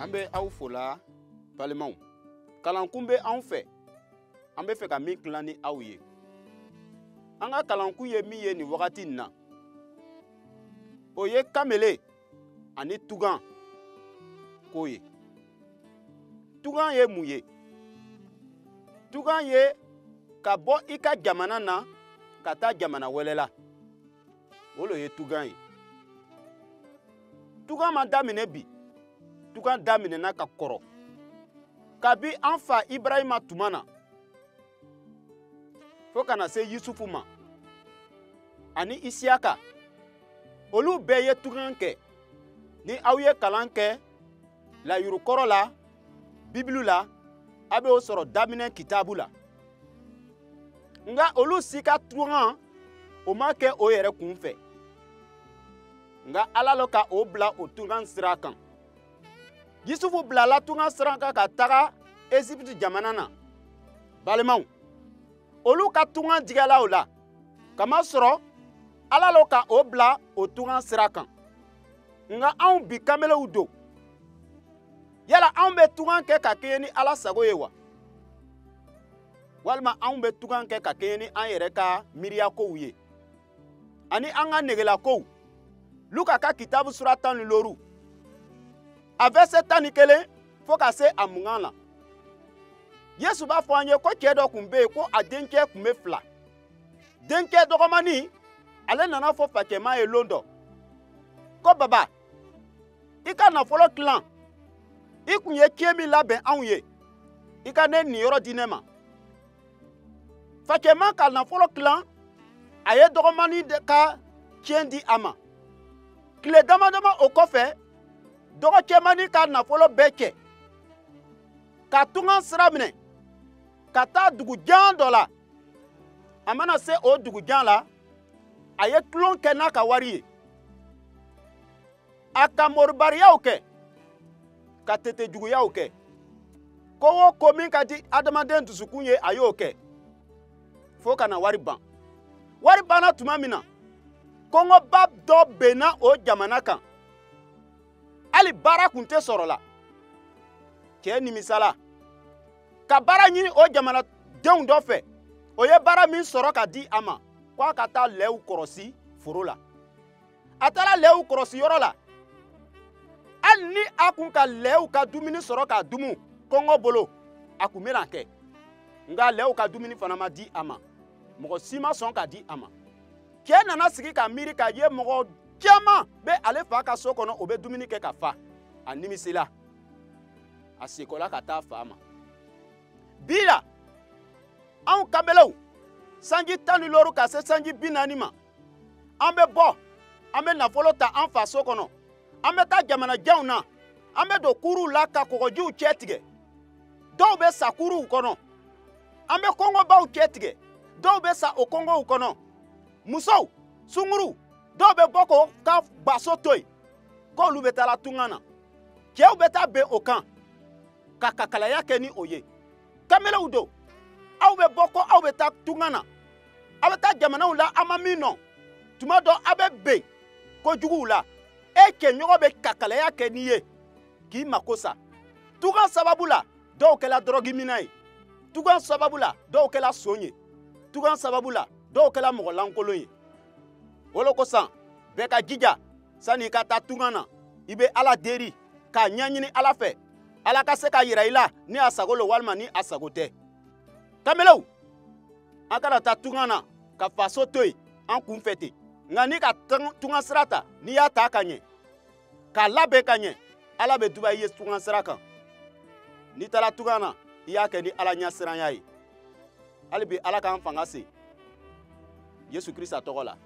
an bɛ aw fola balimaw kalankun bɛ anw fɛ an bɛ fɛ ka min tilan ni aw ye an ka kalankun ye min ye nin wagati in na o ye kamele ani tugan ko ye tugan ye mun ye tugan ye ka bɔ i ka jamana na ka taa jamana wɛrɛ la o lo ye tugan ye tugan ma daminɛ bi tugan daminɛna ka kɔrɔ kabi an fa ibrahima tuma na fo ka na se yusufu ma ani isiyaka olu bɛɛ ye tugan kɛ ni aw ye kalan kɛ layurukɔrɔ la bibulu la a bɛ o sɔrɔ daminɛ kitabu la nka olu si ka tugan o ma kɛ o yɛrɛ kun fɛ nka ala lo ka o bila o tugan sira kan yusufu bilala tugan sira kan ka taga ezipiti jamana na balimaw olu ka tugan diyala o la kamasɔrɔ ala lo ka o bila o tugan sira kan nka anw bi kamelew don yala anw bɛ tugan kɛ ka kɛɲɛ ni ala sago ye wa walima anw bɛ tugan kɛ ka kɛɲɛ ni an yɛrɛ ka miiriya kow ye ani an ka negela kow luka ka kitabu sura tan ni looru a vɛrsɛ tan ni kelen fo ka se a mugan na yesu b'a fɔ an ye ko cɛɛ dɔ kun be yen ko a denkɛ kun be fila denkɛ dɔgɔmani ale nan'a fɔ fakɛma ye lon dɔ ko baba i ka nafolo tilan i kun ye tiɲɛ min labɛn anw ye i ka ne niyɔrɔ di ne ma fakɛma ka nafolo tilan a ye dɔgɔmani ka tiɲɛ di a ma tile dama dama o kɔfɛ dɔgɔcɛmani ka nafolo bɛɛ cɛ ka tugan sira minɛ ka taa dugu jan dɔ la a mana se o dugu jan la a ye tulon kɛ n'a ka wari ye a ka moribariyaw kɛ ka tete juguyaw kɛ ko o ko min ka di adamaden dusukun ye a y'o kɛ fo ka na wari ban wari banna tuma min na kɔngɔba dɔ benna o jamana kan hali baara kun tɛ sɔrɔla cɛɛ nimisala ka baara ɲini o jamanadenw dɔ fɛ o ye baara min sɔrɔ ka di a ma ko a ka taa lɛw kɔrɔsi foro la a taara lɛw kɔrɔsi yɔrɔ la hali ni a kun ka lɛw ka dumuni sɔrɔ k'a dumu kɔngɔ bolo a kun bɛna a kɛ nka lɛw ka dumuni fana ma di a ma mɔgɔ si ma sɔn k'a di a ma cɛ nana sigi ka miiri k'a ye mɔgɔ caman bɛ ale fa ka so kɔnɔ o bɛ dumuni kɛ ka fa a nimisila a sekɔla ka taa fa ma bi la anw kamelew sanji tan ni looru ka se sanji bi naani ma an bɛ bɔ an bɛ nafolo ta an faso kɔnɔ an bɛ taa jamanajanw na an bɛ don kuruw la ka kɔgɔjiw cɛ tigɛ dɔw bɛ sa kuruw kɔnɔ an bɛ kongobaw cɛ tigɛ dɔw bɛ sa o kongow kɔnɔ musow sunguruw dɔw bɛ bɔ k'o ka baso to yen k'olu bɛ taa la tunga na cɛw bɛ taa ben o kan ka kakalaya kɛ ni o ye kamelew don aw bɛ bɔ ko aw bɛ taa tunga na aw bɛ taa jamanaw la a ma min lɔn tuma dɔ aw bɛ ben kojuguw la e cɛɲɔgɔn bɛ kakalaya kɛ n'i ye k'i mako sa tunga sababu la dɔw kɛla dɔrɔgiminna ye tunga sababu la dɔw kɛla son ye tunga sababu la dɔw kɛla mɔgɔ lankolon ye o lo kosɔn bɛɛ ka jija sani i ka taa tunga na i bɛ ala deri k'a ɲɛɲini ala fɛ ala ka se k'a yira i la ni a sago lo walima ni a sago tɛ kamelew an kana taa tunga na ka faso to yen an kun fɛ ten nka n'i ka tunga sira ta n'i y'a ta ka ɲɛ k'a labɛn ka ɲɛ ala bɛ duba i ye tunga sira kan n'i taara tunga na i y'a kɛ ni ala ɲɛsiranya ye hali bi ala k'an fanga se yesu krista tɔgɔ la